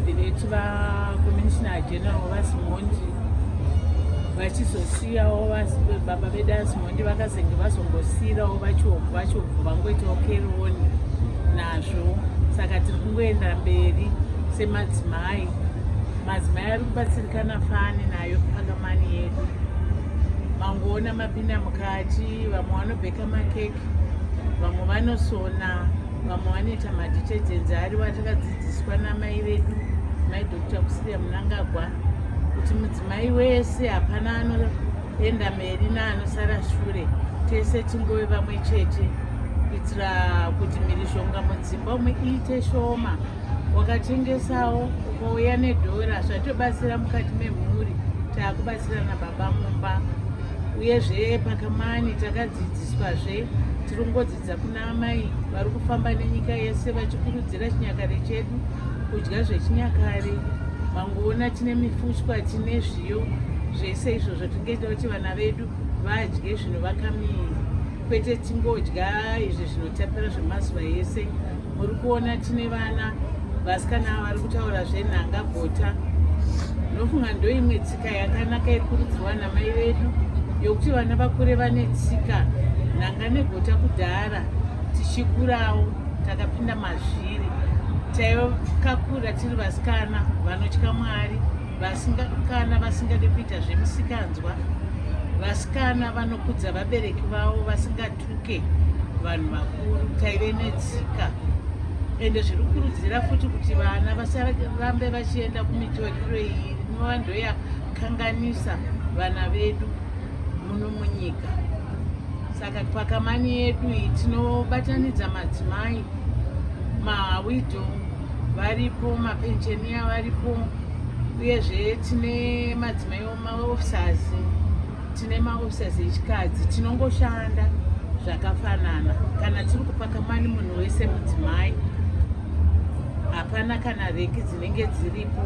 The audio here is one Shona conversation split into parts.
ndidiretu vacommissioner general vasimondi vachizosiyawo baba vedu asimondi vakazenge vazongosiyirawo vachobvu vachobvu vangoitawo keroni nazvo saka tiri kungoenda mberi semadzimai madzimai ari kubatsirikana fani nayo pakamani yedu mangoona mapinda mukati vamwe vanobheka makeke vamwe vanosona vamwe vanoita maditetenzi ariwo atakadzidziswa namai vedu mai dr kusiria munangagwa kuti mudzimai wese hapana anoenda meri naanosara shure tese tingove vamwe chete kuitira kuti mhirizhonga mudzimba umwe iite shoma wakatengesawo ukauya nedhora zvatobatsira mukati memhuri taakubatsira nababa mumba uyezve pakamani takadzidziswazve tirongodzi Kuna amai vari kufamba nenyika yese vachikurudzira chinyakare chedu kudya zvechinyakare mangoona tine mifushwa tine zviyo zvese izvo zvatingeta kuti vana vedu vadye zvinovaka miri kwete tingodya izvi zvinotapira zvemazuva ese muri kuona tine vana vasikana vari kutaura zvenhanga bota ndinofunga ndoimwe tsika yakanaka iri kurudzirwa namai vedu yokuti vana vakure vane tsika nhanga negota kudhara tichikurawo takapinda mazviri taikakura tiri vasikana vanotya mwari vasikana vasingade kuita zvemisikanzwa vasikana vanokudza vabereki vavo vasinga tuke vanhu vakuru taive netsika ende zviri kurudzira futi kuti vana vasarambe vachienda kumitoriro iyi inova ndoyakanganisa vana vedu muno munyika saka pakamani yedu iyi tinobatanidza madzimai mawido varipo mapenjeniya varipo uyezve tine madzimai maofisers tine maofisas echikadzi tinongoshanda zvakafanana kana tiri kupaka mani munhu wese mudzimai hapana kana reki dzinenge dziripo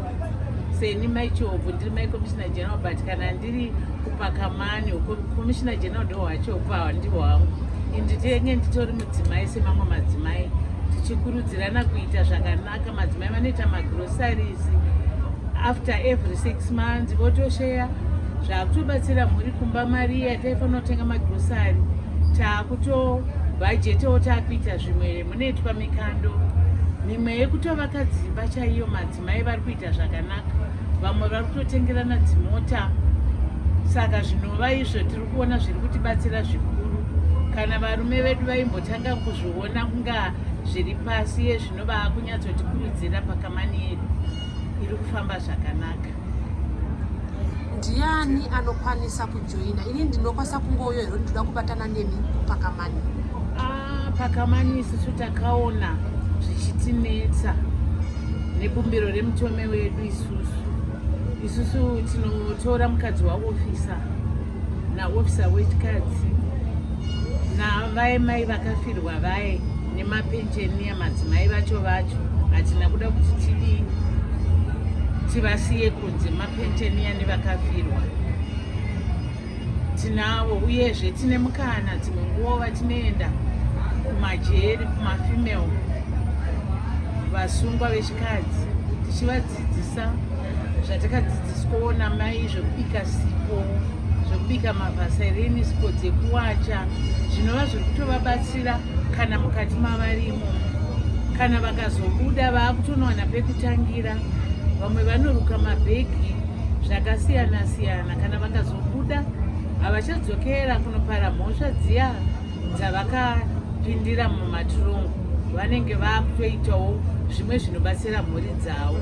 seni maichobvu ndiri mai commissioner general but kana ndiri kupaka mani commissioner general ndo hwachobvu hawa ndiho hangu inditenge nditori mudzimai semamwe madzimai tichikurudzirana kuita zvakanaka Aka madzimai vanoita magroceries after every six months votosheya zvakutobatsira mhuri kumba mari iya taifanira kutenga magrocery takuto bhajetewo takuita zvimwe munoitwa mikando mimwe yekutovaka dzimba chaiyo madzimai vari kuita zvakanaka vamwe vari kutotengerana dzimota saka zvinova izvo tiri kuona zviri kutibatsira zvikuru kana varume vedu vaimbotanga kuzviona kunga zviri pasi yezvi Nova kunyatsotikurudzira pakamani yedu iri kufamba zvakanaka. Ndiani anokwanisa kujoina? Ini ndinokwanisa kungouyo here ndinoda kubatana nemi pakamani? Ah, pakamani isusu takaona zvichitinetsa nebumbiro remutume wedu isusu isusu tinotora mukadzi waofisa naofisa wechikadzi navaye mai vakafirwa vaye nemapenjeni emadzimai vacho vacho hatina kuda kuti tidii tivasiye kunze mapenjeni ane vakafirwa tinavo uyezve tine mukana dzimwe nguva vatinoenda kumajeri kumafemale vasungwa vechikadzi tichiva Dzidzisa zvatakadzidziswawo namai zvekubika sipo zvekubika mavhaserini sipo dzekuwacha zvinova zviri kutovabatsira kana mukati mavarimo kana vakazobuda vaakutonowana pekutangira vamwe vanoruka mabhegi zvakasiyana siyana kana vakazobuda havachadzokera kunopara mhosva dziya dzavakapindira mumatirongo vanenge vakutoitawo zvimwe zvinobatsira mhuri dzavo